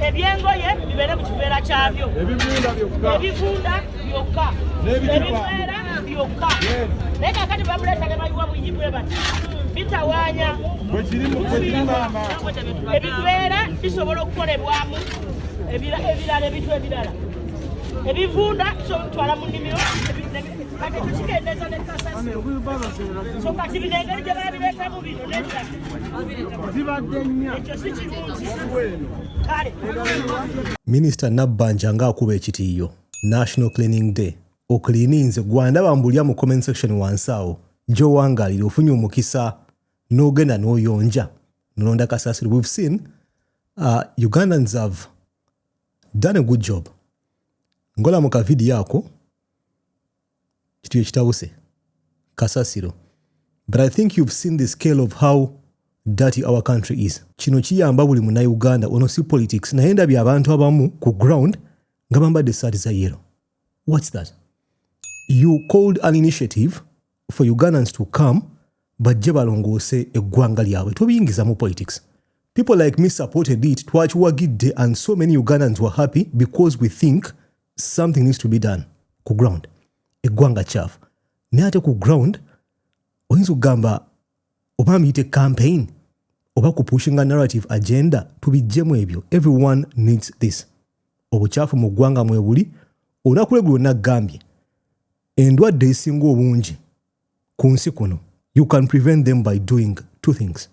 ebyengoye bibeere mu kiveera kyabyo ebivunda byokka ebiveera byokka naye kakati bamuleeta ne bayiwa buyyi bwe bati bitawaanya ebiveera bisobola okukolebwamu ebirala ebintu ebirala ebivunda kyotwala mu nnimiro kati tukigendeeza ne kasasi so kati bino engeri gye babireetamu bino nebirala minisita nabbanja ng'akuba ekitiiyo national cleaning day oklininze gwandaba mbulya mu comment section wansi awo gyowangalira ofunye omukisa n'ogenda n'oyonja nolonda kasasiro we've seen uh, ugandans have done a good job ngola mu kavidiyo ako kituyo kitabuse kasasiro but i think you've seen the scale of how dirty our country is kino kiyamba buli munauganda ono si politics naye ndabye abantu abamu ku ground nga bambadde esaati za yero whats that you called an initiative for ugandans to come bajje balongoose eggwanga lyabwe tobiyingizamu politics people like me supported it twakiwagidde and so many ugandans were happy because we think something needs to be done ku ground eggwanga kyafu naye ate ku ground oyinza okugamba oba muyite campaign oba ku pushinga narrative agenda tubijjemu ebyo everyone needs this obukyafu mu ggwanga mwebuli olunaku lwe lwonna gambye endwadde ezisinga obungi ku nsi kuno you can prevent them by doing two things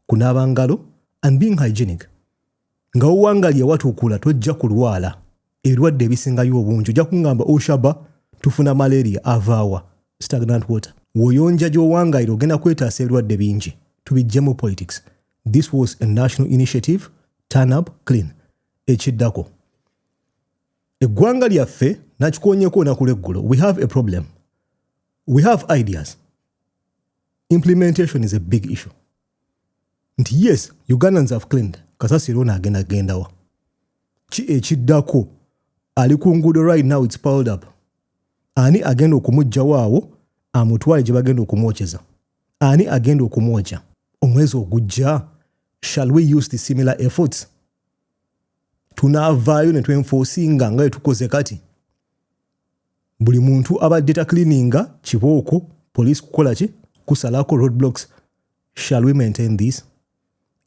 kunaaba ngalo and being hygienic nga wewangalya watukula tojja kulwala ebirwadde ebisingayo obungi ojja kungamba oshaba oh, tufuna malaria avaawa stagnant water woyonja gyowangalira ogenda kwetaasa ebirwadde bingi tubijjemu politics this was a national initiative turn up clean ekiddako eggwanga lyaffe nakikonyeko olunaku lweggulo we have a problem we have ideas implementation is a big issue nti yes ugandans have claimed kasasiro ono agenda gendawa ki ekiddako ali ku nguudo right now its piled up ani agenda okumugjawo awo amutwale gye bagenda okumwokyeza ani agenda okumwokya omwezi ogujja shall we use the similar efforts tunaavaayo ne twenfoosinga nga etukoze kati buli muntu abadde taklininga kibooko police kukola ki kusalako road blocks shall we maintain this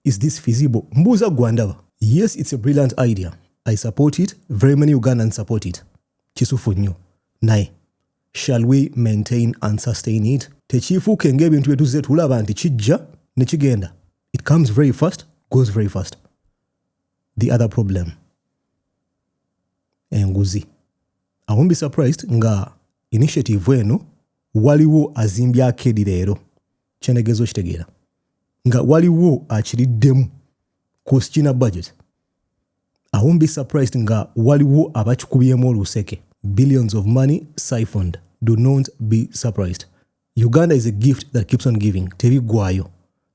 is this feasible mbuuza gwandaba yes it's a brilliant idea i support it very many ugandans support it kisufu nnyo naye shall we maintain and sustain it tekiifuuke ngaebintu byetuze tulaba nti kijja nekigenda it comes very fast goes very fast the other problem enguzi I won't be surprised nga initiative eno waliwo azimbye akedi leero kyenegeeza okitegeera nga waliwo akiriddemu kusikina budget I won't be surprised nga waliwo abakikubyemu oluseke billions of money siphoned do not be surprised uganda is a gift that keeps on giving tebiggwayo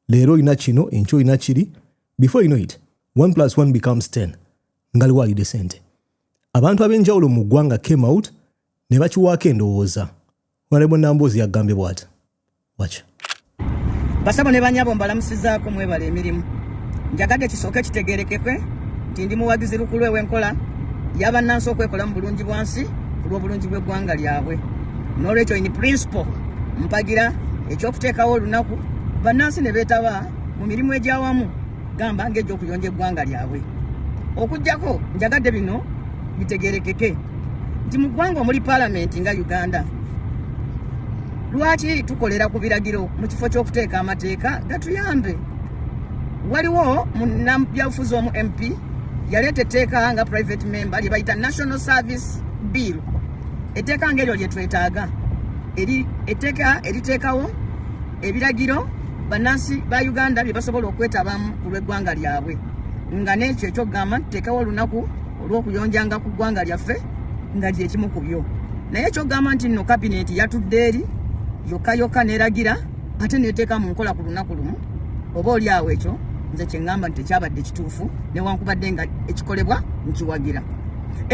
leero olina kino enkyo olina kiri before you know it 1 plus 1 becomes 10 nga liwaalidde sente abantu ab'enjawulo mu ggwanga came out ne bakiwaako endowooza honorable namboozi yagambye bwati wakyo basabo ne banyabo mbalamusizaako mwebala emirimu njagadde kisooke kitegeerekekwe nti ndi muwagizi lukulu ew'enkola yabannansi okwekola mu bulungi bwansi ku lw'obulungi bw'eggwanga lyabwe n'olwekyo in principle mpagira ekyokuteekawo olunaku bannansi ne beetaba mu mirimu egyawamu gamba ng'egy'okuyonja eggwanga lyabwe okujjako njagadde bino bitegerekeke nti mu ggwanga omuli palamenti nga uganda lwaki tukolera ku biragiro mu kifo ky'okuteeka amateeka gatuyambe waliwo munabyabufuzi omu mp yaleeta etteeka nga private member lye bayita national service bill etteeka ngaeryo lyetwetaaga etteeka eriteekawo ebiragiro bannansi ba uganda bye basobola okwetabamu ku lw'eggwanga lyabwe nga n'ekyo ekyokugamba nti teekawo olunaku olw'okuyonjanga ku ggwanga lyaffe nga gyekimu ku byo naye ekyokugamba nti nno kabineeti yatudde eri yokka yokka n'eragira ate neteeka mu nkola ku lunaku lumu oba oli awo ekyo nze kyeŋŋamba nti tekyabadde kituufu newankubadde nga ekikolebwa nkiwagira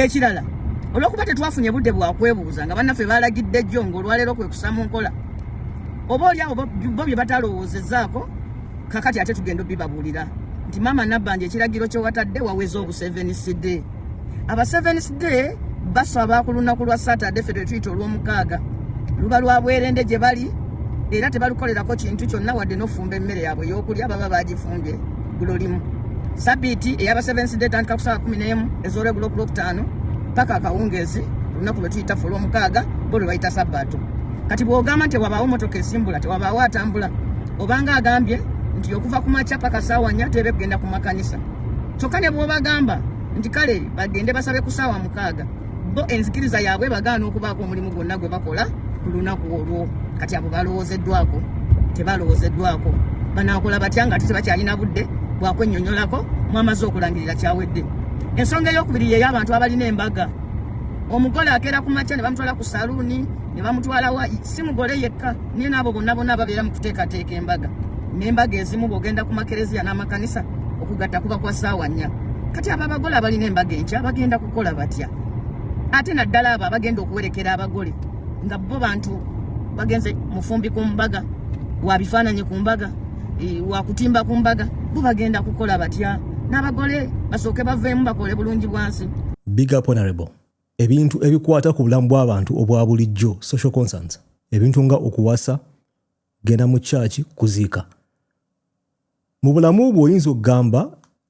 ekirala olw'okuba tetwafunye budde bwakwebuuza nga bannaffe baalagidde jjo ng'olwaleero kwe kusa mu nkola oba oli awo bo bye batalowoozezaako kakati ate tugenda obibabuulira nti maama nabbanja ekiragiro kyewatadde waweza obu sevens day aba sevens day basaba ku lunaku lwa saturday fe twetuyita olw'omukaaga luba lwa bwerende gye bali era tebalukolerako kintu kyonna wadde n'ofumba emmere yaabwe ey'okulya baba bagifumbye gulo limu sabiiti eyaba sevens day etandika ku saawa kumi n'emu ez'olwegulo ku lwokutaano paka akawungeezi olunaku lwe tuyita fe olw'omukaaga bo lwe bayita sabbaato kati bwogamba nti wabaawo motoka esimbula tewabaawo atambula obanga agambye nti okuva ku makya paka saawa nnya teebe kugenda ku makanisa kyokka ne bwobagamba nti kale bagende basabe ku saawa mukaaga bo enzikiriza yaabwe bagaana okubaako omulimu gwonna gwe bakola ku lunaku olwo kati abo balowoozeddwako tebalowoozeddwako banaakola batya nga ate tebakyalina budde bwakwennyonnyolako mwamaze okulangirira kyawedde ensonga ey'okubiri yeyo abantu abalina embaga omugole akeera ku makya ne bamutwala ku saluuni ne bamutwalawo si mugole yekka naye n'abo bonna bonna ababeera mu kuteekateeka embaga n'embaga ezimu bw'ogenda ku makereziya n'amakanisa okugatta kuba kwa ssaawa nnya kati abo abagole abalina embaga enkya bagenda kukola batya ate naddala abo abagenda okuwerekera abagole nga bo bantu bagenze mufumbi ku mbaga wa bifaananyi ku mbaga e, wa kutimba ku mbaga bo bagenda kukola batya n'abagole basooke baveemu bakole bulungi bwansi big up honorable ebintu ebikwata ku bulamu bw'abantu obwa bulijjo social concerns ebintu nga okuwasa genda mu kyaki kuziika mu bulamu bwe oyinza okugamba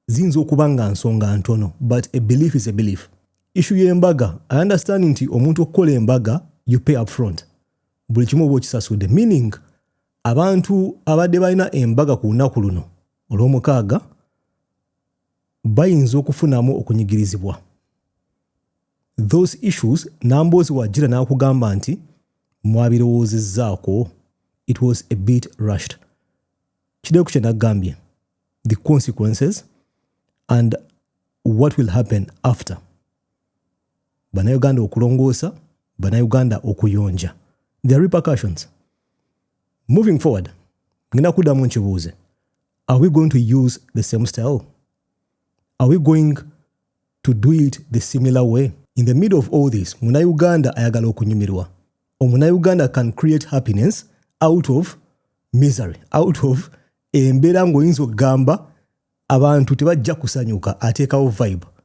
ziyinza okuba nga nsonga ntono but a belief is a belief issu y'embaga i understand nti omuntu okukola embaga you pay up front buli kimu oba okisasudde meaning abantu abadde balina embaga ku lunaku luno olw'omukaaga bayinza okufunamu okunyigirizibwa those issues namboozi wajira n'akugamba nti mwabirowoozezzaako it was a bit rushed kideeku kye naggambye the consequences and what will happen after bannayuganda okulongoosa bannayuganda okuyonja the repercussions moving forward ngenda kuddamu nkibuuze are we going to use the same style? Are we going to do it the similar way? In the middle of all this, muna Uganda ayagala okunyumirwa. Omuna Uganda can create happiness out of misery, out of embeera ng'oyinza okugamba abantu tebajja kusanyuka ateekawo vibe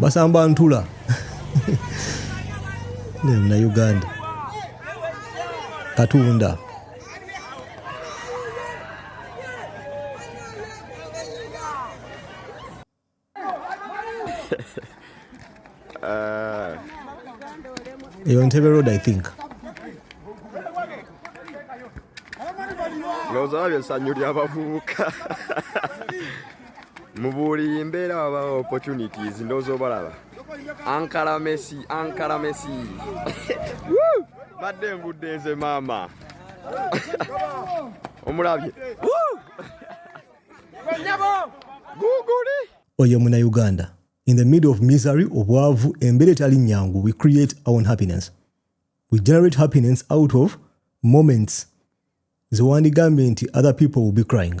basamba ntula na uganda katunda eyo ntebe road i think lowooza babyo essanyu ly'abavubuka mu buli mbeera wabawo opportunities ndowooza obalaba ankala messi ankala messi badde ngudde nze maama omulabye guguli oyo muna uganda in the middle of misery obwavu embeera etali nyangu we create our own happiness we generate happiness out of moments zewandigambye nti other people will be crying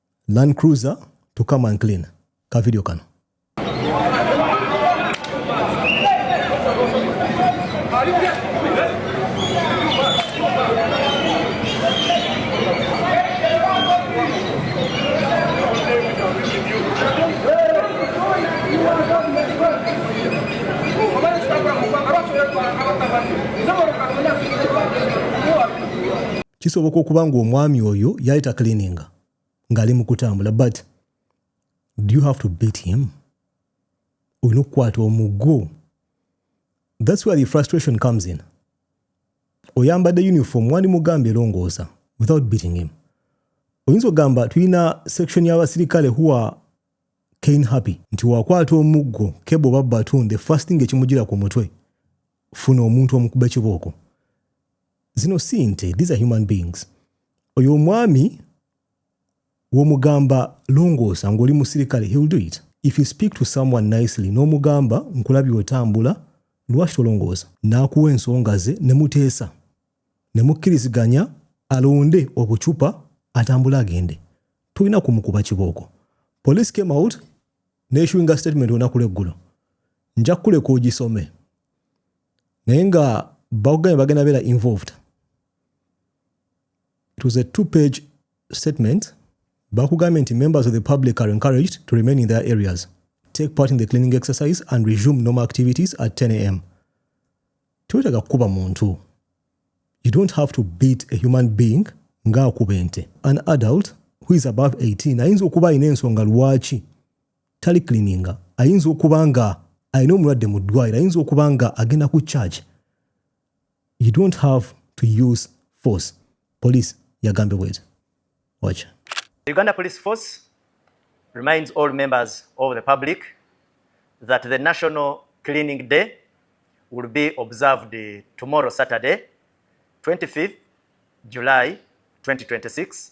Land Cruiser to come and clean ka video kano kisoboka okuba nga omwami oyo yali taklininga ng'ali mu kutambula but do you have to beat him olina okukwata omugo thats where the frustration comes in oyambadde uniform wandi mugamba erongoosa without beating him oyinza okugamba tulina section y'abasirikale huwa kain happy nti wakwata omuggo kebo oba batun the first thing ekimugira ku mutwe funa omuntu omukuba ekibooko zino si nte these are human beings oyo omwami womugamba longoosa ng'oli musirikale he'll do it if you speak to someone nicely n'omugamba nkulabye otambula lwaki tolongoosa n'akuwa ensonga ze ne muteesa ne mukkiriziganya alonde obucupa atambule agende tulina kumukuba kibooko police came out neissuinga statement onaku lweggulo nja kukuleka ogisome naye nga bakugambye bagenda beera involved it was a two page statement bakugambye nti members of the public are encouraged to remain in their areas take part in the cleaning exercise and resume normal activities at 10 am tewetaga kukuba muntu you don't have to beat a human being ng'akuba ente an adult who is above 18 ayinza okuba alina ensonga lwaki talikilininga ayinza okuba nga alina omulwadde mu ddwaliro ayinza okuba nga agenda ku charge you don't have to use force police yagambye bwezi wacha the uganda police force reminds all members of the public that the national cleaning day will be observed tomorrow saturday 25 july 2026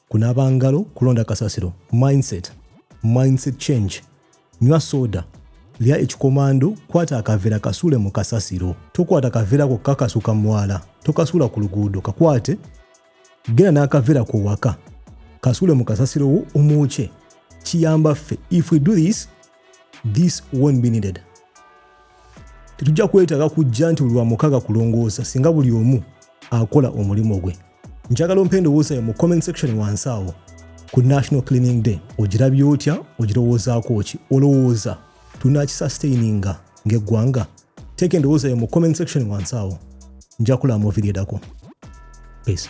kunaaba ngalo kulonda kasasiro mindset mindset change nywa soda lya ekikomando kwata akavera kasuule mu kasasiro tokwata kavera ko kakasuka mwala tokasuula ku luguudo kakwate genda n'akavera ko waka kasuule mu kasasiro wo omwokye kiyamba ffe if we do this this won't be needed tetujja kwetaaga kujja nti buli wamukaga kulongoosa singa buli omu akola omulimu gwe njagala ompa endowooza yo mu comment section wansi awo ku national cleaning day ogirabye otya ogirowoozaako ki olowooza tunakisustaininga ng'eggwanga teeka endowooza yo mu comment section wansi awo nja kulaba mu video edako peace